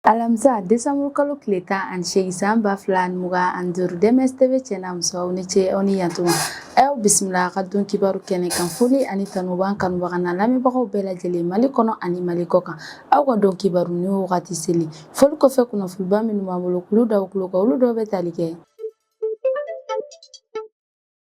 alamisa desanburu kalo tile tan ani seegin san ba fila ani mugan ani duuru DMS TV cɛ n'a muso aw ni ce aw ni yantuma aw bisimila a ka don kibaru kɛnɛ kan foli ani tanu b'an kanubagaw n'an lamɛnbagaw bɛɛ lajɛlen mali kɔnɔ ani mali kɔ kan aw ka don kibaru ni wagati seli foli kɔfɛ kunnafoniba minnu b'an bolo k'olu da aw tulo kan olu dɔw bɛ tali kɛ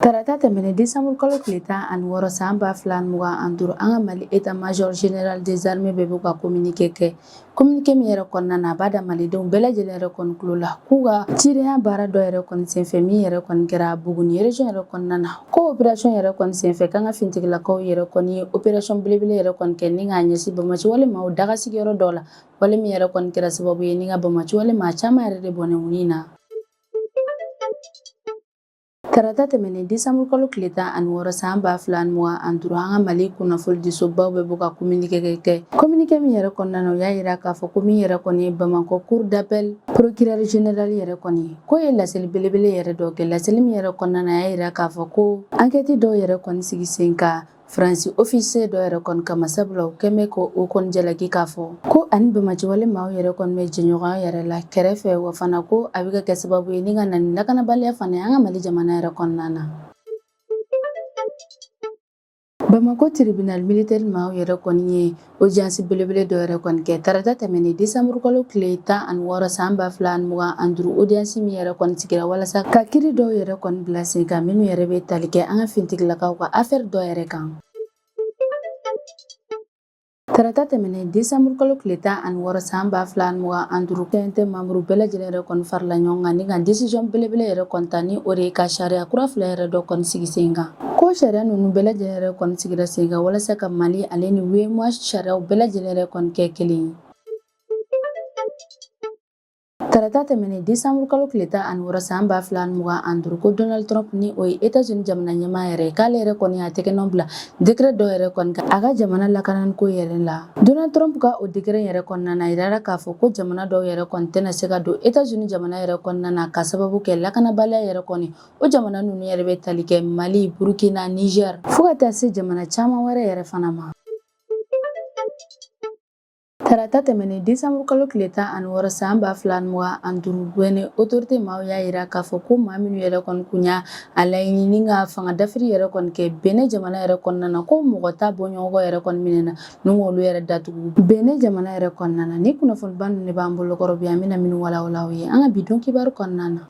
Tarata tɛmɛnen décembre kalo tile tan ani wɔɔrɔ san ba fila mugan ani duuru an ka Mali état major général des armées bɛ bɔ ka communiqué kɛ communiqué min yɛrɛ kɔnɔna na a b'a da malidenw bɛɛ lajɛlen yɛrɛ kɔni tulo la k'u ka cidenya baara dɔ yɛrɛ kɔni senfɛ min yɛrɛ kɔni kɛra Buguni région yɛrɛ kɔnɔna na ko opération yɛrɛ kɔni senfɛ k'an ka finitigilakaw yɛrɛ kɔni ye opération belebele yɛrɛ kɔni kɛ ni k'a ɲɛsin banbaanci wale maaw daga sigiyɔrɔ dɔw la wale min yɛrɛ kɔni kɛra sababu ye ni ka banbaanci wale maa caman yɛrɛ de bɔnɛ u ni na Tarata tɛmɛnen décembre kalo tile tan ani wɔɔrɔ san ba fila ni mugan ani duuru an ka Mali kunnafonidisobaw bɛ bɔ ka communiqué kɛ communiqué min yɛrɛ kɔnɔna na u y'a yira k'a fɔ ko min yɛrɛ kɔni ye Bamakɔ cour d'appel procureur général yɛrɛ kɔni ye k'o ye laseli belebele yɛrɛ dɔ kɛ laseli min yɛrɛ kɔnɔna na a y'a yira k'a fɔ ko enquête dɔw yɛrɛ kɔni sigi sen kan Faransi ofise dɔ yɛrɛ kɔni kama sabula u kɛlen bɛ ko o kɔni jalaki k'a fɔ ko a ni banbaanci wale maaw yɛrɛ kɔni bɛ jɛɲɔgɔn yɛrɛ la kɛrɛfɛ wa fana ko a bɛ ka kɛ sababu ye ni ka na ni lakanabaliya fana ye an ka mali jamana yɛrɛ kɔnɔna na bamakɔ tiribinali militeri maaw yɛrɛ kɔni ye Audience belebele dɔ yɛrɛ kɔni kɛ tarata tɛmɛnen desanburu kalo tile tan ani wɔɔrɔ san ba fila mugan an duuru audience min yɛrɛ kɔni sigira walasa ka kiri dɔw yɛrɛ kɔni bila sen kan minnu yɛrɛ bɛ tali kɛ an ka finitigilakaw ka aferi dɔw yɛrɛ kan Tarata tɛmɛnen desanburu kalo tile tan ani wɔɔrɔ san ba fila mugan an duuru CNT membre bɛɛ lajɛlen yɛrɛ kɔni farala ɲɔgɔn kan ni ka décision belebele yɛrɛ kɔni ta ni o de ye ka sariya kura fila yɛrɛ dɔ kɔni sigi sen kan ko sariya ninnu bɛɛ lajɛlen yɛrɛ kɔni sigira sen kan walasa ka mali ale ni UEMOA sariyaw bɛɛ lajɛlen yɛrɛ kɔni kɛ kelen ye tarata tɛmɛnen desanburu kalo tile tan ani wɔɔrɔ san ba fila ani mugan ani duuru ko donald trump ni o ye etats unis jamana ɲɛmaa yɛrɛ k'ale yɛrɛ kɔni y'a tɛgɛnɔ bila dekere dɔ yɛrɛ kɔni kan a ka jamana lakananiko yɛrɛ la donald trump ka o dekere yɛrɛ kɔnɔna na a yirara k'a fɔ ko jamana dɔw yɛrɛ kɔni tɛna se ka don etats unis jamana yɛrɛ kɔnɔna na ka sababu kɛ lakanabaliya yɛrɛ kɔni O jamana ninnu yɛrɛ bɛ tali kɛ Mali, Burukina, Nizɛri fo ka taa se jamana caman wɛrɛ yɛrɛ fana ma. Tarata tɛmɛnen desanburu kalo tile tan ani wɔɔrɔ san ba fila ni mugan ani duuru Benin otorite maaw y'a yira k'a fɔ ko maa minnu yɛrɛ kɔni tun y'a laɲini ni ka fanga dafiri yɛrɛ kɔni kɛ Benin jamana yɛrɛ kɔnɔna na ko mɔgɔ tan bɔɲɔgɔnko yɛrɛ kɔni minɛna ni k'olu yɛrɛ datugu Benin jamana yɛrɛ kɔnɔna na ni kunnafoniba ninnu de b'an bolokɔrɔ bi an bɛna minnu walawala aw ye an ka bi don kibaru kɔnɔna na.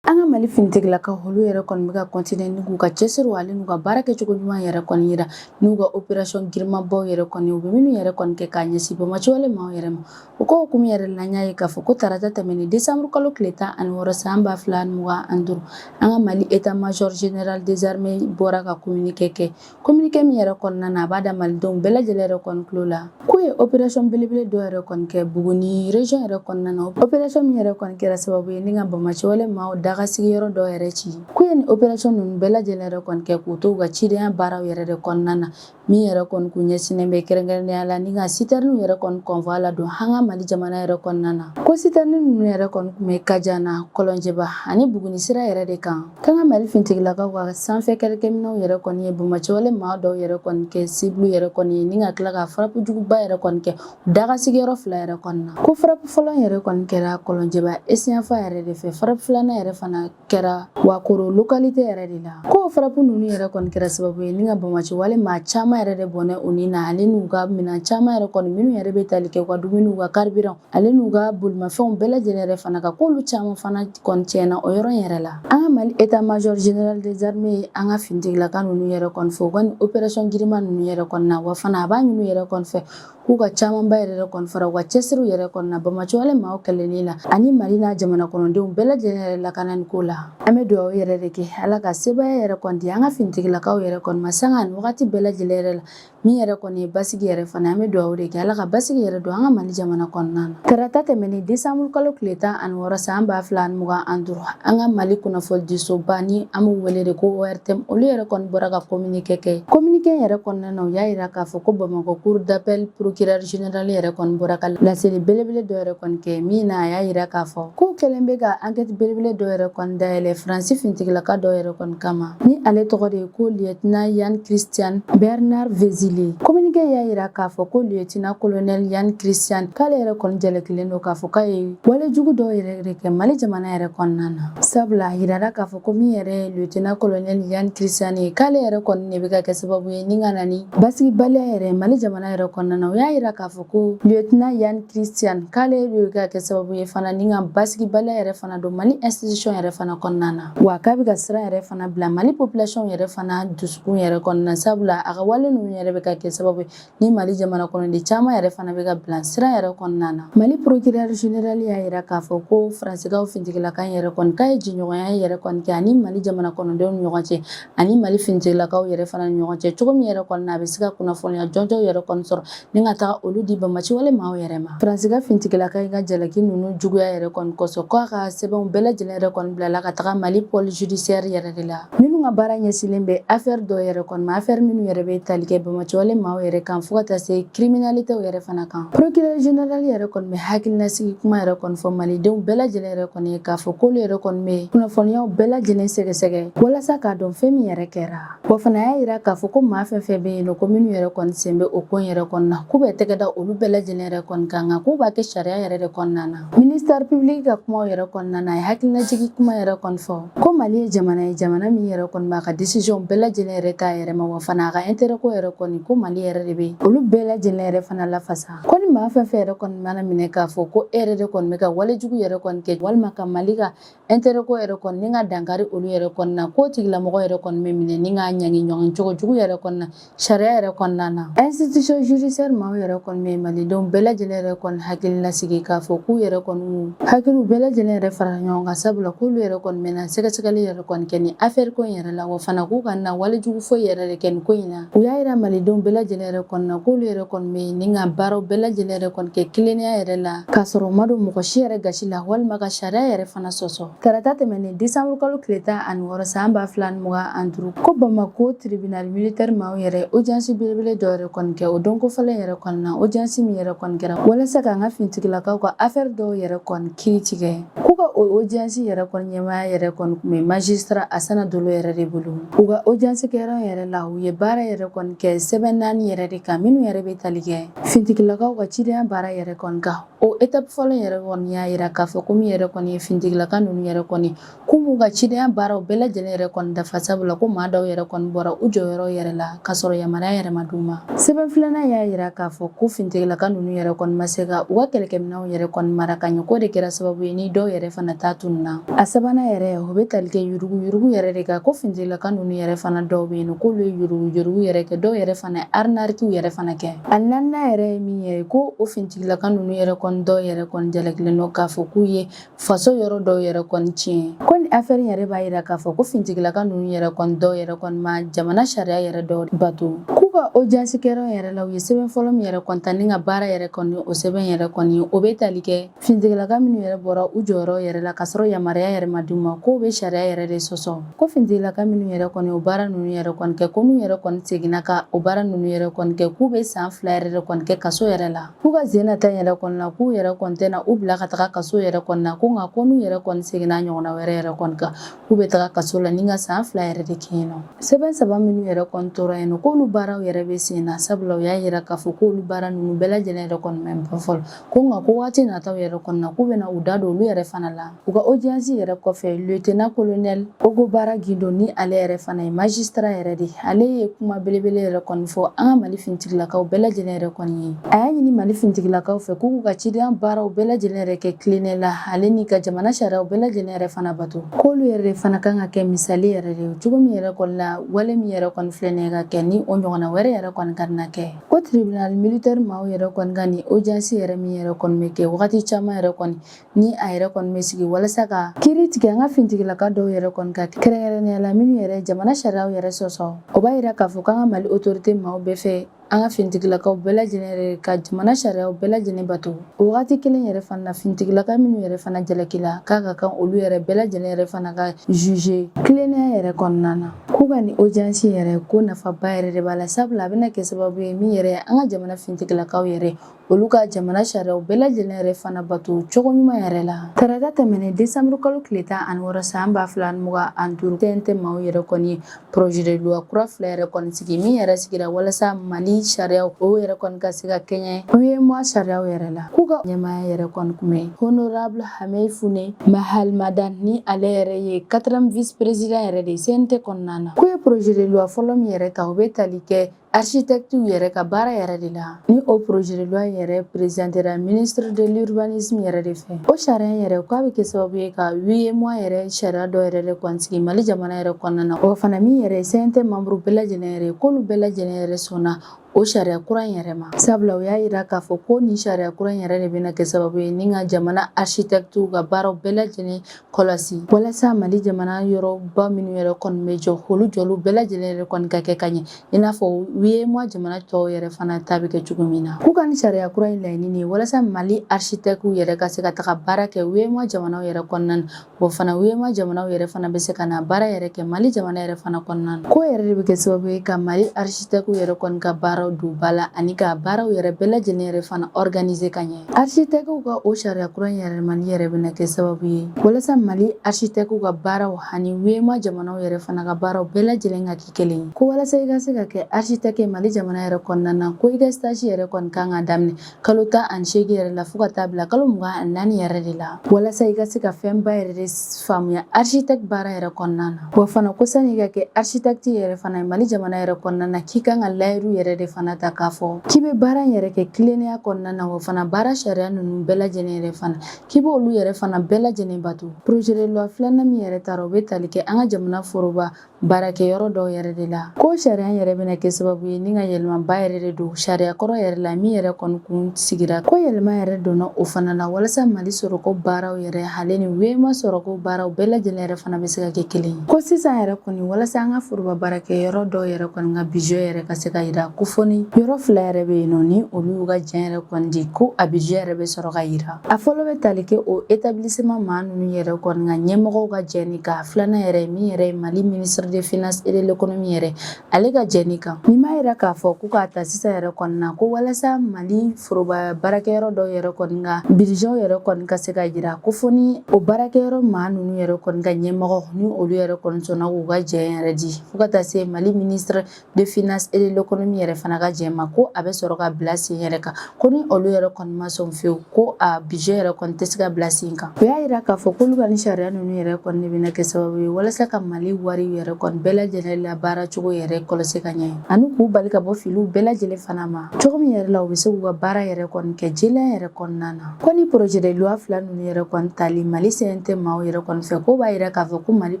An ka mali finitigilakaw olu yɛrɛ kɔni bɛ ka continuer ni k'u ka cɛsiri ale n'u ka baara kɛcogo ɲuman yɛrɛ kɔni yira n'u ka opération girinmanbaw yɛrɛ kɔni u bɛ minnu yɛrɛ kɔni kɛ k'a ɲɛsin banbaanci wale maaw yɛrɛ ma o ko hukumu yɛrɛ la an y'a ye k'a fɔ ko tarata tɛmɛnen desanburu kalo tile tan ani wɔɔrɔ san ba fila ani mugan ani duuru an ka mali état major général des armées bɔra ka kominike kɛ Kominike min yɛrɛ kɔnɔna na a b'a da malidenw bɛɛ lajɛlen yɛrɛ kɔni tulo la k'u ye opération belebele dɔw yɛrɛ kɔni kɛ buguni région yɛrɛ kɔnɔna na opération min yɛrɛ kɔni kɛra sababu ye ni ka banbaanci wale maaw daga sigiyɔrɔ dɔw yɛrɛ ci k'u ye nin opération ninnu bɛɛ lajɛlen yɛrɛ kɔni kɛ k'u to u ka cidenya baaraw yɛrɛ de kɔnɔna na min yɛrɛ kɔni tun ɲɛsinnen bɛ kɛrɛnkɛrɛnnenya la ni ka siterniw yɛrɛ kɔni convoi ladon an ka mali jamana yɛrɛ kɔnɔna na ko siterni ninnu yɛrɛ kɔni tun bɛ kajana kɔlɔnjɛba ani buguni sira yɛrɛ de kan K'an ka mali finitigilakaw ka sanfɛ kɛlɛkɛminɛnw yɛrɛ kɔni ye banbaanci wale maa dɔw yɛrɛ kɔni kɛ cible yɛrɛ kɔni ye ni ka tila ka frappe juguba yɛrɛ kɔni kɛ daga sigiyɔrɔ fila yɛrɛ kɔnɔna na ko frappe fɔlɔ yɛrɛ kɔni kɛra kɔlɔnjɛba est yanfan yɛrɛ de fɛ frappe filanan yɛrɛ fana kɛra wakoro localité yɛrɛ de la ko frappe ninnu yɛrɛ kɔni kɛra sababu ye ni ka banbaanci wale maa caman yɛrɛ de bɔnɛ u ni na ale n'u ka minɛn caman yɛrɛ kɔni minnu yɛrɛ bɛ tali kɛ u ka dumuni u ka carburant ale n'u ka bolimafɛnw bɛɛ lajɛlen yɛrɛ fana ka k'olu caman fana kɔni tiɲɛna o yɔrɔ in yɛrɛ la an ka mali état major général des armées an ka finitigilaka ninnu yɛrɛ kɔni fo u ka nin opération girinman ninnu yɛrɛ kɔni na wa fana a b'a ɲini yɛrɛ kɔni fɛ k'u ka camanba yɛrɛ kɔni fara u ka cɛsiriw yɛrɛ kɔni na banbaanci wale maaw kɛlɛli la ani mali n'a jamana kɔnɔdenw bɛɛ lajɛlen yɛrɛ lakanani ko la an bɛ dugawu yɛrɛ de kɛ ala ka sebaya yɛrɛ kɔni di an ka finitigilakaw yɛrɛ kɔni ma sanga ani wagati bɛɛ lajɛlen yɛrɛ la Min yɛrɛ kɔni ye basigi yɛrɛ fana an bɛ dugawu de kɛ Ala ka basigi yɛrɛ don an ka Mali jamana kɔnɔna na. Tarata tɛmɛnen desanburu kalo tile tan ani wɔɔrɔ san ba fila ani mugan ani duuru, an ka Mali kunnafonidisoba ni an b'u wele de ko ORTM, olu yɛrɛ kɔni bɔra ka communiqué kɛ. Communiqué in yɛrɛ kɔnɔna na, u y'a yira k'a fɔ ko Bamakɔ cour d'appel procureur général yɛrɛ kɔni bɔra ka laseli belebele dɔ yɛrɛ kɔni kɛ, min na a y'a yira k'a fɔ k'u kɛlen bɛ ka enquête belebele dɔ yɛrɛ kɔni dayɛlɛ Faransi finitigilaka dɔ yɛrɛ kɔni kama, ni ale tɔgɔ de ye ko lieutenant Yann Christian Bernard Vezilier communiqué y'a yira k'a fɔ ko lieutenant colonel Yann Christian k'ale yɛrɛ kɔni jalakilen don k'a fɔ k'a ye wale jugu dɔw yɛrɛ de kɛ Mali jamana yɛrɛ kɔnɔna na sabula a yirara k'a fɔ ko min yɛrɛ ye lieutenant colonel Yann Christian ye k'ale yɛrɛ kɔni de bɛ ka kɛ sababu ye ni ka na ni basigibaliya yɛrɛ Mali jamana yɛrɛ kɔnɔna na o y'a yira k'a fɔ ko lieutenant Yann Christian k'ale de bɛ ka kɛ sababu ye fana ni ka basigibaliya yɛrɛ fana don Mali institution yɛrɛ fana kɔnɔna na wa k'a bɛ ka siran yɛrɛ fana bila mali population yɛrɛ fana dusukun yɛrɛ kɔnɔna sabula a ka wale ninnu yɛrɛ bɛ ka kɛ sababu ye ni mali jamana kɔnɔden caman yɛrɛ fana bɛ ka bila siran yɛrɛ kɔnɔna na mali procureur général y'a yira k'a fɔ ko faransikaw finitigilaka in yɛrɛ kɔni k'a ye jɛɲɔgɔnya yɛrɛ kɔni kɛ ani mali jamana kɔnɔdenw ni ɲɔgɔn cɛ ani mali finitigilakaw yɛrɛ fana ni ɲɔgɔn cɛ cogo min yɛrɛ kɔnɔna a bɛ se ka kunnafoniya jɔnjɔnw yɛrɛ kɔni sɔrɔ ni ka taga olu di banbaanci wale maaw yɛrɛ ma faransika fintigilaka in ka jalaki ninnu juguya yɛrɛ kɔni kosɔn k'a ka sɛbɛnw bɛɛ lajɛlen yɛrɛ kɔni bilala ka taga mali pôle judiciaire yɛrɛ de la minnu ka baara ɲɛsinlen bɛ afɛri dɔw yɛrɛ kɔni ma afɛri minnu yɛrɛ bɛ tali kɛ banbaanci wale maaw yɛrɛ kan fo ka taa se kiriminalite yɛrɛ fana kan procureur général yɛrɛ kɔni bɛ hakilinasigi kuma yɛrɛ kɔni fɔ malidenw bɛɛ lajɛlen yɛrɛ kɔni ye k'a fɔ k'olu yɛrɛ kɔni bɛ kunnafoniyaw bɛɛ lajɛlen sɛgɛsɛgɛ walasa k'a dɔn fɛn min yɛrɛ kɛra Wa fana y'a yira k'a fɔ ko maa fɛn fɛn bɛ yen nɔ ko minnu yɛrɛ kɔni sen bɛ o ko in yɛrɛ kɔni na k'u bɛ tɛgɛ da olu bɛɛ lajɛlen yɛrɛ kɔni kan nka k'u b'a kɛ sariya yɛrɛ de kɔnɔna na minisitɛri pibiliki ka kumaw yɛrɛ kɔnɔna na a ye hakilinajigin kuma yɛrɛ kɔni fɔ ko mali ye jamana ye jamana min yɛrɛ kɔni b'a ka desiziyɔn bɛɛ lajɛlen yɛrɛ t'a yɛrɛ ma wa fana a ka intérêt ko yɛrɛ kɔni ko mali yɛrɛ de bɛ olu bɛɛ lajɛlen yɛrɛ fana lafasa ko ni maa fɛn fɛn yɛrɛ kɔni mana minɛ k'a fɔ ko e yɛrɛ de kɔni bɛ ka walejugu yɛrɛ kɔni kɛ walima ka mali ka intérêt ko yɛrɛ kɔni ni ka dankari olu yɛrɛ kɔni na k'o tigilamɔgɔ yɛrɛ kɔni bɛ minɛ ni ka ɲangi ɲɔgɔn cogo jugu yɛrɛ kɔni na sariya yɛrɛ kɔnɔna na institution judiciaire maaw yɛrɛ kɔni bɛ malidenw bɛɛ lajɛlen yɛrɛ kɔni hakili lasigi k'a fɔ k'u yɛrɛ kɔni hakiliw bɛɛ lajɛlen yɛrɛ fara ɲɔgɔn kan sabula k'olu yɛrɛ kɔni bɛna sɛgɛsɛgɛli yɛrɛ kɔni kɛ ni affaire ko in yɛrɛ la wa fana k'u kana walejugu foyi yɛrɛ de kɛ nin ko in na U y'a yira malidenw bɛɛ lajɛlen yɛrɛ kɔni na k'olu yɛrɛ kɔni bɛ yen ni ka baaraw bɛɛ lajɛlen yɛrɛ kɔni kɛ tilennenya yɛrɛ la k'a sɔrɔ u ma don mɔgɔ si yɛrɛ gasi la walima ka sariya yɛrɛ fana sɔsɔ tarata tɛmɛnen desanburu kalo tile tan ani wɔɔrɔ san ba fila ni mugan ani duuru ko bamako tribinali militɛri maaw yɛrɛ ojansi belebele dɔ yɛrɛ kɔni kɛ o don kofɔlen yɛrɛ kɔni na ojansi min yɛrɛ kɔni kɛra walasa k'an ka fintigilakaw ka afɛri dɔw yɛrɛ kɔni kiri tigɛ K'u ka o ojansi yɛrɛ kɔni ɲɛmaaya yɛrɛ kɔni tun bɛ magistrat asana dolo yɛrɛ de bolo u ka ojansikɛyɔrɔ yɛrɛ la u ye baara yɛrɛ kɔni kɛ sɛbɛn naani yɛrɛ de kan minnu yɛrɛ bɛ tali kɛ fintigilakaw ka cidenya baara yɛrɛ kɔni kan o étape fɔlɔ yɛrɛ kɔni y'a yira k'a fɔ ko min yɛrɛ kɔni ye fintigilaka ninnu yɛrɛ kɔni k'u m'u ka cidenya baaraw bɛɛ lajɛlen yɛrɛ kɔni dafa sabula ko maa dɔw yɛrɛ kɔni bɔra u jɔyɔrɔ yɛrɛ la k'a sɔrɔ yamaruya yɛrɛ ma d'u ma sɛbɛn filanan y'a yira k'a fɔ ko fintigilaka ninnu yɛrɛ kɔni ma se ka u ka kɛlɛkɛminɛ nw yɛrɛ kɔni mara ka ɲɛ k'o de kɛra sababu ye ni dɔw yɛrɛ fana ta tununna a sabanan yɛrɛ o bɛ tali kɛ yuruguyurugu yɛrɛ de kan ko fintigilaka ninnu yɛrɛ fana dɔw bɛ yen k'olu ye yuruguyurugu yɛrɛ kɛ dɔw yɛrɛ fana arnaque yɛrɛ fana kɛ a naaninan yɛrɛ ye min ye ko o fintigilaka ninnu yɛrɛ kɔni dɔw yɛrɛ kɔni jalakilen don k'a fɔ k'u ye faso yɔrɔ dɔw yɛrɛ kɔni tiɲɛ ko ni afɛri yɛrɛ b'a yira k'a fɔ ko fintigilaka ninnu yɛrɛ kɔni dɔw yɛrɛ kɔni ma jamana sariya yɛrɛ dɔw bato k'u ka ojansikɛyɔrɔ yɛrɛ la u ye sɛbɛn fɔlɔ min yɛrɛ kɔni ta ni ka baara yɛrɛ kɔni o sɛbɛn yɛrɛ kɔni o bɛ tali kɛ fintigilaka minnu yɛrɛ bɔra u jɔyɔrɔ yɛrɛ la k'a sɔrɔ yamaruya yɛrɛ ma d'u ma k'o bɛ sariya yɛrɛ de sɔsɔ ko fintigilaka minnu yɛrɛ kɔni o baara ninnu yɛrɛ kɔni kɛ ko n'u yɛrɛ kɔni seginna ka o baara ninnu yɛrɛ kɔni kɛ k'u bɛ san fila yɛrɛ de kɔni kɛ kaso yɛrɛ la K'u ka sen na ta yɛrɛ kɔnɔna na k'u yɛrɛ kɔni tɛna u bila ka taga kaso yɛrɛ kɔnɔna na ko nka ko n'u yɛrɛ kɔni seginna ɲɔgɔnna wɛrɛ yɛrɛ kɔni kan k'u bɛ taga kaso la ni ka san fila yɛrɛ de kɛ yen nɔ sɛbɛn saba minnu yɛrɛ kɔni tora yen nɔ k'olu baaraw yɛrɛ bɛ sen na sabula u y'a yira k'a fɔ k'olu baara ninnu bɛɛ lajɛlen yɛrɛ kɔni ma ban fɔlɔ ko nka ko waati nataw yɛrɛ kɔnɔna na k'u bɛna u da don olu yɛrɛ fana la U ka audience yɛrɛ kɔfɛ lieutenant colonel Ogobara Guindo ni ale yɛrɛ fana ye magistrat yɛrɛ de ale ye kuma belebele yɛrɛ kɔni fɔ an ka mali fintigilakaw bɛɛ lajɛlen yɛrɛ kɔni ye a y'a ɲini mali fintigilakaw fɛ k'u ka cidenya baaraw bɛɛ lajɛlen yɛrɛ kɛ tilennenya la ale ni ka jamana sariyaw bɛɛ lajɛlen yɛrɛ fana bato k'olu yɛrɛ de fana kan ka kɛ misali yɛrɛ de ye cogo min yɛrɛ kɔni la wale min yɛrɛ kɔni filɛ nin ka kɛ ni o ɲɔgɔnna wɛrɛ yɛrɛ kɔni kana kɛ ko tribunal militaire maaw yɛrɛ kɔni ka ni audience yɛrɛ min yɛrɛ kɔni bɛ kɛ wagati caman yɛrɛ kɔni ni a yɛrɛ kɔni bɛ sigi walasa ka kiri tigɛ an ka fintigilaka dɔw yɛrɛ kɔni kan kɛrɛnkɛrɛnnenya la minnu yɛrɛ jamana sariyaw yɛrɛ sɔsɔ o b'a yira k'a fɔ k'an ka mali autorité maaw b'a fɛ an ka fintigilakaw bɛɛ lajɛlen yɛrɛ ka jamana sariyaw bɛɛ lajɛlen bato o wagati kelen yɛrɛ fana na fintigilaka minnu yɛrɛ fana jalakila k'a ka kan olu yɛrɛ bɛɛ lajɛlen yɛrɛ fana ka juge tilennenya yɛrɛ kɔnɔna na k'u ka ni audience yɛrɛ ko nafaba yɛrɛ de b'a la sabula a bɛna kɛ sababu ye min yɛrɛ an ka jamana fintigilakaw yɛrɛ olu ka jamana sariyaw bɛɛ lajɛlen yɛrɛ fana bato cogo ɲuman yɛrɛ la tarata tɛmɛnen desanburu kalo tile tan ani wɔɔrɔ san ba fila ni mugan ani duuru cnt maaw yɛrɛ kɔni ye projet de loi kura fila yɛrɛ kɔni sigi min yɛrɛ sigira walasa mali sariyaw o yɛrɛ kɔni ka se ka kɛɲɛ uemoa sariyaw yɛrɛ la k'u ka ɲɛmaaya yɛrɛ kɔni kun bɛ honorable Hamèye Founé Mahalmadane ni ale yɛrɛ ye quatrième vice président yɛrɛ de cnt kɔnɔna na k'u ye projet de loi fɔlɔ min yɛrɛ ta o bɛ tali kɛ Architectes yɛrɛ ka baara yɛrɛ de la ni o projet de loi yɛrɛ présentera ministre de l'urbanisme yɛrɛ de fɛ o sariya yɛrɛ k'a bɛ kɛ sababu ye ka UEMOA yɛrɛ sariya dɔ yɛrɛ de kɔni sigi Mali jamana yɛrɛ kɔnɔna na wa fana min yɛrɛ CNT membre bɛɛ lajɛlen yɛrɛ k'olu bɛɛ lajɛlen yɛrɛ sɔnna o sariya kura in yɛrɛ ma sabula o y'a yira k'a fɔ ko nin sariya kura in yɛrɛ de bɛna kɛ sababu ye ni ka jamana architectes ka baaraw bɛɛ lajɛlen kɔlɔsi walasa mali jamana yɔrɔba minnu yɛrɛ kɔni bɛ jɔ olu jɔliw bɛɛ lajɛlen yɛrɛ kɔni ka kɛ ka ɲɛ i n'a fɔ UEMOA jamana tɔw yɛrɛ fana ta bɛ kɛ cogo min na k'u ka ni sariya kura in laɲini ye walasa mali architectes yɛrɛ ka se ka taga baara kɛ UEMOA jamanaw yɛrɛ kɔnɔna na wa fana UEMOA jamanaw yɛrɛ fana bɛ se ka na baara yɛrɛ kɛ mali jamana yɛrɛ fana kɔnɔna na k'o yɛrɛ de bɛ kɛ sababu ye ka mali architectes yɛrɛ kɔni ka baaraw don ba la ani ka baaraw yɛrɛ bɛɛ lajɛlen yɛrɛ fana organiser ka ɲɛ Architectes ka o sariya kura in yɛlɛmali yɛrɛ bɛna kɛ sababu ye walasa Mali architectes ka baaraw ani UEMOA jamanaw yɛrɛ fana ka baaraw bɛɛ lajɛlen ka kɛ kelen ye. Ko walasa i ka se ka kɛ architecte ye Mali jamana yɛrɛ kɔnɔna na, ko i ka stage yɛrɛ kɔni kan ka daminɛ kalo tan ani seegin yɛrɛ la fo ka taa bila kalo mugan ani naani yɛrɛ de la walasa i ka se ka fɛnba yɛrɛ de faamuya architecte baara yɛrɛ kɔnɔna na wa fana ko sani i ka kɛ architecte yɛrɛ fana ye mali jamana yɛrɛ kɔnɔna na k'i kan ka layiru yɛrɛ de fana ta k'a fɔ k'i bɛ baara in yɛrɛ kɛ tilennenya kɔnɔna na wa fana baara sariya ninnu bɛɛ lajɛlen yɛrɛ fana k'i b' olu yɛrɛ fana bɛɛ lajɛlen bato projet de loi filanan min yɛrɛ tara o bɛ tali kɛ an ka jamana foroba baarakɛyɔrɔ dɔw yɛrɛ de la ko sariya yɛrɛ bɛna kɛ sababu ye ni ka yɛlɛmaba yɛrɛ de don sariya kɔrɔ yɛrɛ la min yɛrɛ kɔni kun sigira ko yɛlɛma yɛrɛ donna o fana la walasa mali sɔrɔko baaraw yɛrɛ hale ni UEMOA sɔrɔko baaraw bɛɛ lajɛlen yɛrɛ fana bɛ se ka kɛ kelen ye ko sisan yɛrɛ kɔni walasa an ka foroba baarakɛyɔrɔ dɔw yɛrɛ kɔni ka budget yɛrɛ ka se ka yira ko fɔ ni yɔrɔ fila yɛrɛ bɛ yen nɔ ni olu y'u ka jɛn yɛrɛ kɔni di ko a budget yɛrɛ bɛ sɔrɔ ka yira A fɔlɔ bɛ tali kɛ o établissement maa ninnu yɛrɛ kɔni ka ɲɛmɔgɔw ka jɛni kan filanan yɛrɛ min yɛrɛ ye mali ministre des finances et de l'économie yɛrɛ ale ka jɛni kan ni m'a yira k'a fɔ ko k'a ta sisan yɛrɛ kɔni na ko walasa mali foroba baarakɛyɔrɔ dɔw yɛrɛ kɔni ka budget yɛrɛ kɔni ka se ka yira ko fɔ ni o baarakɛyɔrɔ maa ninnu yɛrɛ kɔni ka ɲɛmɔgɔ ni olu yɛrɛ kɔni sɔnna k'u ka jɛn yɛrɛ di fo ka taa se mali ministre des finances et de l'économie yɛrɛ fana ka jɛn ma ko a bɛ sɔrɔ ka bila sen yɛrɛ kan ko ni olu yɛrɛ kɔni ma sɔn fewu ko a budget yɛrɛ kɔni tɛ se ka bila sen kan o y'a yira k'a fɔ k'olu ka ni sariya ninnu yɛrɛ kɔni de bɛna kɛ sababu ye walasa ka mali wari yɛrɛ kɔni bɛɛ lajɛlen la baara cogo yɛrɛ kɔlɔsi ka ɲɛ ani k'u bali ka bɔ filiw bɛɛ lajɛlen fana ma cogo min yɛrɛ la u bɛ se k'u ka baara yɛrɛ kɔni kɛ jɛlenya yɛrɛ kɔnɔna na Ko ni projet de loi fila ninnu yɛrɛ kɔni tali Mali CNT maaw yɛrɛ kɔni fɛ k'o b'a yira k'a fɔ ko Mali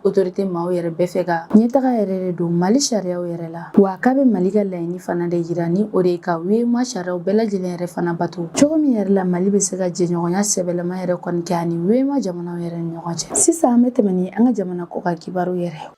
autorité maaw yɛrɛ bɛ fɛ ka ɲɛtaga yɛrɛ de don Mali sariyaw yɛrɛ la wa k'a bɛ Mali ka laɲini fana de yira ni o de ye ka UEMOA sariyaw bɛɛ lajɛlen yɛrɛ fana bato cogo min yɛrɛ la Mali bɛ se ka jɛɲɔgɔnya sɛbɛlama yɛrɛ kɔni kɛ ani UEMOA jamanaw yɛrɛ ni ɲɔgɔn cɛ. Sisan an bɛ tɛmɛ ni an ka jamana kɔkan kibaru yɛrɛ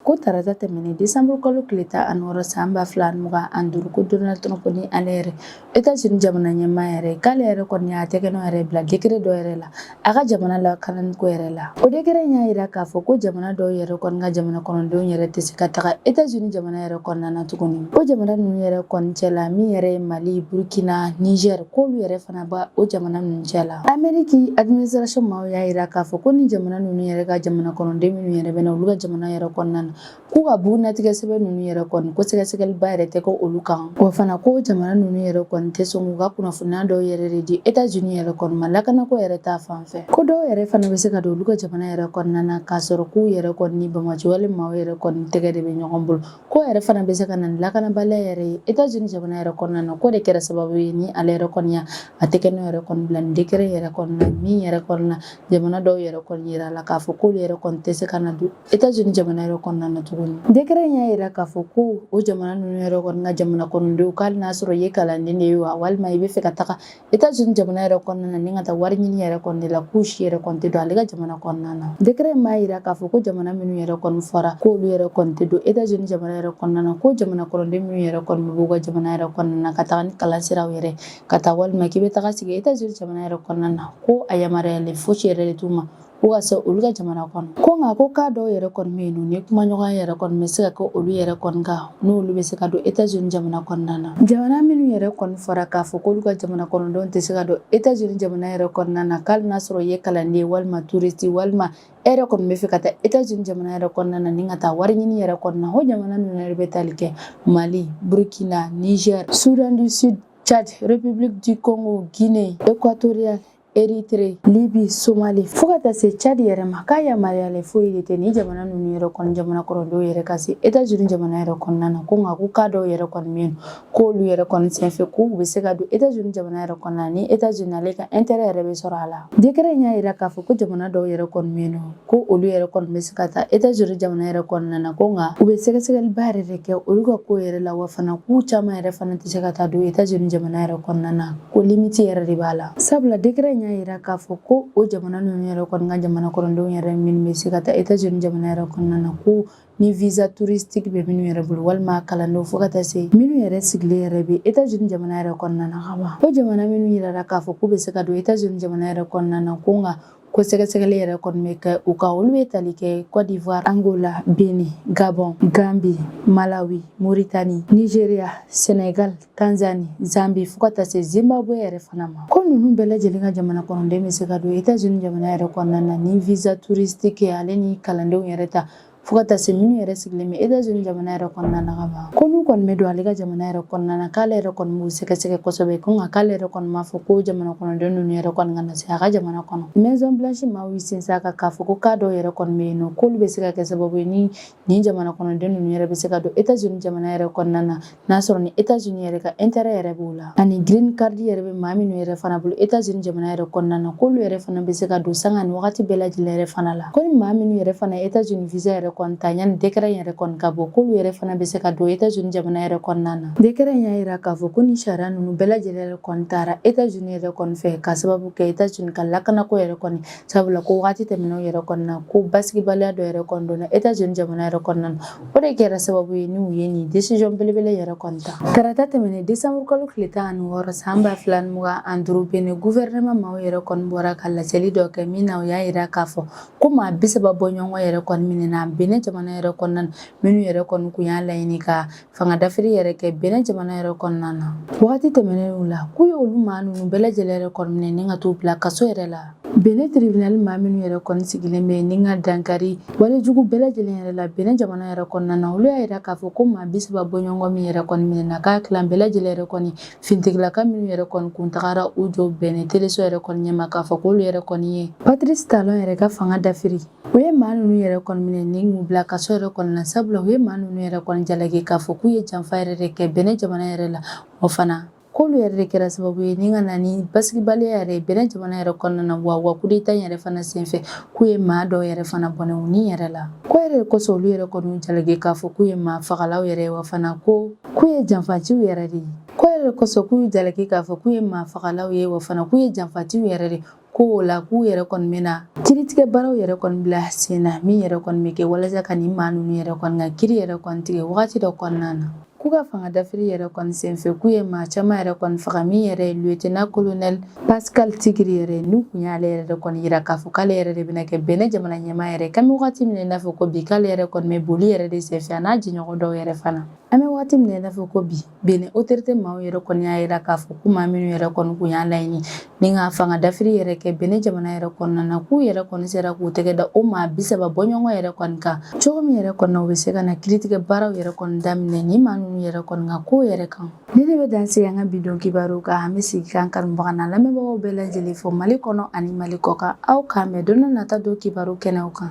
Ko tarata tɛmɛnen décembre kalo tile tan ani wɔɔrɔ san ba fila ani mugan ani duuru ko Donald Trump ni ale yɛrɛ Etats-Unis jamana ɲɛmaa yɛrɛ k'ale yɛrɛ kɔni y'a tɛgɛnɔ yɛrɛ bila décret dɔ yɛrɛ la a ka jamana lakananiko yɛrɛ la o décret in y'a yira k'a fɔ ko jamana dɔw yɛrɛ kɔni ka jamana kɔnɔdenw yɛrɛ tɛ se ka taga Etats-Unis jamana yɛrɛ kɔnɔna na tuguni o jamana ninnu yɛrɛ kɔni cɛ la min yɛrɛ ye mali burkina niger k'olu yɛrɛ fana b'o jamana ninnu cɛ la ameriki administration maaw y'a yira k'a fɔ ko ni jamana ninnu yɛrɛ ka jamana kɔnɔden minnu yɛrɛ bɛ na olu ka jamana yɛrɛ kɔnɔna na k'u ka bugunnatigɛ sɛbɛn ninnu yɛrɛ kɔni ko sɛgɛsɛgɛliba yɛrɛ tɛ kɛ olu kan wa fana ko jamana ninnu yɛrɛ kɔni tɛ sɔn k'u ka kunnafoniya dɔw yɛrɛ de di Etats-Unis yɛrɛ kɔni ma lakanako yɛrɛ ta fan fɛ ko dɔw yɛrɛ fana bɛ se ka don olu ka jamana yɛrɛ kɔnɔna na k'a sɔrɔ k'u yɛrɛ kɔni ni bamajɔwale maaw yɛrɛ kɔni tɛgɛ de bɛ ɲɔgɔn bolo k'o yɛrɛ fana bɛ se ka na ni lakanabaliya yɛrɛ ye Etats-Unis jamana yɛrɛ kɔnɔna na k'o de kɛra sababu ye ni ale yɛrɛ kɔni y'a tɛgɛnɔ yɛrɛ kɔni bila ni décret yɛrɛ kɔni na min yɛrɛ kɔni na jamana dɔw yɛrɛ kɔni yirala k'a fɔ k'olu yɛrɛ kɔni tɛ se ka na don Etats-Unis jamana yɛrɛ kɔnɔna na tuguni décret in y'a yira k'a fɔ ko o jamana ninnu yɛrɛ kɔni ka jamana kɔnɔdenw k'ali n'a sɔrɔ i ye kalanden de ye wa walima i bɛ fɛ ka taga États-Unis jamana yɛrɛ kɔnɔna na ni ka taa wari ɲini yɛrɛ kɔni de la k'u si yɛrɛ kɔni tɛ don ale ka jamana kɔnɔna na décret in b'a yira k'a fɔ ko jamana minnu yɛrɛ kɔni fɔra k'olu yɛrɛ kɔni tɛ don États-Unis jamana yɛrɛ kɔnɔna na ko jamana kɔnɔden minnu yɛrɛ kɔni b'u ka jamana yɛrɛ kɔnɔna na ka taga ni kalan siraw yɛrɛ ka taa walima k'i bɛ taga sigi États-Unis jamana yɛrɛ kɔnɔna na ko a yamaruyalen fosi yɛrɛ de t'u ma ko ka se olu ka jamana kɔnɔ ko nka ko k'a dɔw yɛrɛ kɔni bɛ yen nɔ ni kumaɲɔgɔnya yɛrɛ kɔni bɛ se ka kɛ olu yɛrɛ kɔni kan n'olu bɛ se ka don etazini jamana kɔnɔna na jamana minnu yɛrɛ kɔni fɔra k'a fɔ k'olu ka jamana kɔnɔdenw tɛ se ka don etazini jamana yɛrɛ kɔnɔna na k'ali n'a sɔrɔ i ye kalanden walima touriste walima e yɛrɛ kɔni bɛ fɛ ka taa etazini jamana yɛrɛ kɔnɔna na ni ka taa wari ɲini yɛrɛ kɔnɔna o jamana ninnu yɛrɛ bɛ tali kɛ mali burkina niger soudan du sud tchad republique du congo guinee equatoriale Érythrée, Libye, Somalie fo ka taa se Tchad yɛrɛ ma k'a yamaruyalen foyi de tɛ nin jamana ninnu yɛrɛ kɔni jamana kɔnɔdenw yɛrɛ ka se États-Unis jamana yɛrɛ kɔnɔna na ko nka ko k'a dɔw yɛrɛ kɔni bɛ yen k'olu yɛrɛ kɔni senfɛ k'u bɛ se ka don États-Unis jamana yɛrɛ kɔnɔna ni États-Unis ale ka intérêt yɛrɛ bɛ sɔrɔ a la décret in y'a yira k'a fɔ ko jamana dɔw yɛrɛ kɔni bɛ yen ko olu yɛrɛ kɔni bɛ se ka taa États-Unis jamana yɛrɛ kɔnɔna na ko nka u bɛ sɛgɛsɛgɛliba yɛrɛ de kɛ olu ka ko yɛrɛ la wa fana k'u caman yɛrɛ fana tɛ se ka taa don États-Unis jamana yɛrɛ kɔnɔna na ko limiti yɛrɛ de b'a la sabula décret in y'a yira k'a fɔ ko o jamana ninnu yɛrɛ kɔni ka jamana kɔnɔdenw yɛrɛ minnu bɛ se ka taa etats unis jamana yɛrɛ kɔnɔna na ko ni visa touristique bɛ minnu yɛrɛ bolo walima kalandenw fo ka taa se minnu yɛrɛ sigilen yɛrɛ bɛ etats unis jamana yɛrɛ kɔnɔna na ka ban o jamana minnu yirara k'a fɔ k'u bɛ se ka don etats unis jamana yɛrɛ kɔnɔna na ko nka Ko sɛgɛsɛgɛli yɛrɛ kɔni bɛ kɛ u kan olu bɛ tali kɛ Cote d'Ivoire, Angola, Benin, Gabon, Gambie, Malawi, Mauritanie, Nigeria, Senegal, Tanzanie, Zambie fo ka taa se Zimbabwe yɛrɛ fana ma. Ko ninnu bɛɛ lajɛlen ka jamana kɔnɔden bɛ se ka don Etats-Unis jamana yɛrɛ kɔnɔna na ni visa touristique ale ni kalandenw yɛrɛ ta fo ka taa se minnu yɛrɛ sigilen bɛ etats unis jamana yɛrɛ kɔnɔna na ka ban ko n'u kɔni bɛ don ale ka jamana yɛrɛ kɔnɔna na k'ale yɛrɛ kɔni b'u sɛgɛsɛgɛ kosɛbɛ ko nka k'ale yɛrɛ kɔni m'a fɔ ko jamana kɔnɔden ninnu yɛrɛ kɔni kana se a ka jamana kɔnɔ maison blanche maaw y'i sinsin a kan k'a fɔ ko k'a dɔw yɛrɛ kɔni bɛ yen nɔ k'olu bɛ se ka kɛ sababu ye ni nin jamana kɔnɔden ninnu yɛrɛ bɛ se ka don etats unis jamana yɛrɛ kɔnɔna na n'a sɔrɔ ni etats unis yɛrɛ ka intérêt yɛrɛ b'o la ani green card yɛrɛ bɛ maa minnu yɛrɛ fana bolo etats unis jamana yɛrɛ kɔnɔna na k'olu yɛrɛ fana bɛ se ka don sanga ni wagati bɛɛ lajɛlen yɛrɛ fana la ko ni maa minnu yɛrɛ fana etats unis visa yɛrɛ kɔni ta yanni décret in yɛrɛ kɔni ka bɔ k'olu yɛrɛ fana bɛ se ka don etats unis jamana yɛrɛ kɔnɔna na décret y'a yira k'a fɔ ko ni sariya ninnu bɛɛ lajɛlen yɛrɛ kɔni tara etats unis yɛrɛ kɔni fɛ k'a sababu kɛ etats unis ka lakanako yɛrɛ kɔni sabula ko waati tɛmɛnenw yɛrɛ kɔnɔna ko basigibaliya dɔ yɛrɛ kɔni donna etats unis jamana yɛrɛ kɔnɔna na o de kɛra sababu ye n'u ye nin décision belebele yɛrɛ kɔni ta tarata tɛmɛnen desanburu kalo tile tan ani wɔɔrɔ san ba fila ni mugan ani duuru benin guvɛrɛnɛma maaw yɛrɛ kɔni bɔra ka laseli dɔ kɛ min na u y'a yira k'a fɔ ko maa bisaba bɔ ɲɔgɔn yɛrɛ kɔni minɛna benin jamana yɛrɛ kɔnɔna na minnu yɛrɛ kɔni kun y'a laɲini ka Fanga dafiri yɛrɛ kɛ Benin jamana yɛrɛ kɔnɔna na waati tɛmɛnenw la k'u ye olu maa ninnu bɛɛ lajɛlen yɛrɛ kɔni minɛ ni ka t'u bila kaso yɛrɛ la Benin tiribinali maa minnu yɛrɛ kɔni sigilen bɛ ni ka dankari walejugu bɛɛ lajɛlen yɛrɛ la Benin jamana yɛrɛ kɔnɔna na olu y'a yira k'a fɔ ko maa bi saba bɔɲɔgɔn min yɛrɛ kɔni minɛna k'a tila bɛɛ lajɛlen yɛrɛ kɔni finitigilaka minnu yɛrɛ kɔni kun tagara u jɔ Benin teleso yɛrɛ kɔni ɲɛ ma k'a fɔ k'olu yɛrɛ kɔni ye Patrice Talon yɛrɛ ka fanga dafiri U ye maa ninnu yɛrɛ kɔni minɛ ni k'u bila kaso yɛrɛ kɔnɔna na sabula u ye maa ninnu yɛrɛ kɔni jalaki k'a fɔ k'u ye janfa yɛrɛ de kɛ Benin jamana yɛrɛ la o fana k'olu yɛrɛ de kɛra sababu ye ni ka na ni basigibaliya yɛrɛ ye Benin jamana yɛrɛ kɔnɔna na wa wa coup d'Etat in yɛrɛ fana senfɛ k'u ye maa dɔw yɛrɛ fana bɔnɛ u ni yɛrɛ la k'o yɛrɛ de kosɔn olu yɛrɛ kɔni y'u jalaki k'a fɔ k'u ye maa fagalaw yɛrɛ ye wa fana ko k'u ye janfaciw yɛrɛ de ye k'o yɛrɛ de kosɔn k'u y'u jalaki k'a fɔ k'u ye maa fagalaw ye wa fana k'u ye janfatiw yɛrɛ de ko o la k'u yɛrɛ kɔni bɛna kiritigɛ baaraw yɛrɛ kɔni bila sen na min yɛrɛ kɔni bɛ kɛ walasa ka nin maa ninnu yɛrɛ kɔni ka kiri yɛrɛ kɔni tigɛ wagati dɔ kɔnɔna na k'u ka fanga dafiri yɛrɛ kɔni senfɛ k'u ye maa caman yɛrɛ kɔni faga min yɛrɛ ye lieutenant colonel Pascal Tigiri yɛrɛ n'u kun y'ale yɛrɛ de kɔni yira k'a fɔ k'ale yɛrɛ de bɛna kɛ Benin jamana ɲɛmaa yɛrɛ k'an bɛ wagati min i n'a fɔ ko bi k'ale yɛrɛ kɔni bɛ boli yɛrɛ de senfɛ a n'a jɛɲɔgɔn dɔw yɛrɛ fana an bɛ wagati min i n'a fɔ ko bi Benin autorité maaw yɛrɛ kɔni y'a yira k'a fɔ ko maa minnu yɛrɛ kɔni kun y'a laɲini ni ka fanga dafiri yɛrɛ kɛ Benin jamana yɛrɛ kɔnɔna na k'u yɛrɛ kɔni sera k'u tɛgɛ da o maa bi saba bɔɲɔgɔn yɛrɛ kɔni kan cogo min yɛrɛ kɔnɔ u bɛ se ka na kiritigɛ baaraw yɛrɛ kɔni daminɛ nin maa ninnu yɛrɛ kɔni ka ko yɛrɛ kan nin de bɛ dan sigi an ka bidon kibaru kan an bɛ sigi k'an kanubaga n'an lamɛnbagaw bɛɛ lajɛlen fo Mali kɔnɔ ani Mali kɔkan aw k'an mɛn don nata don kibaru kɛnɛw kan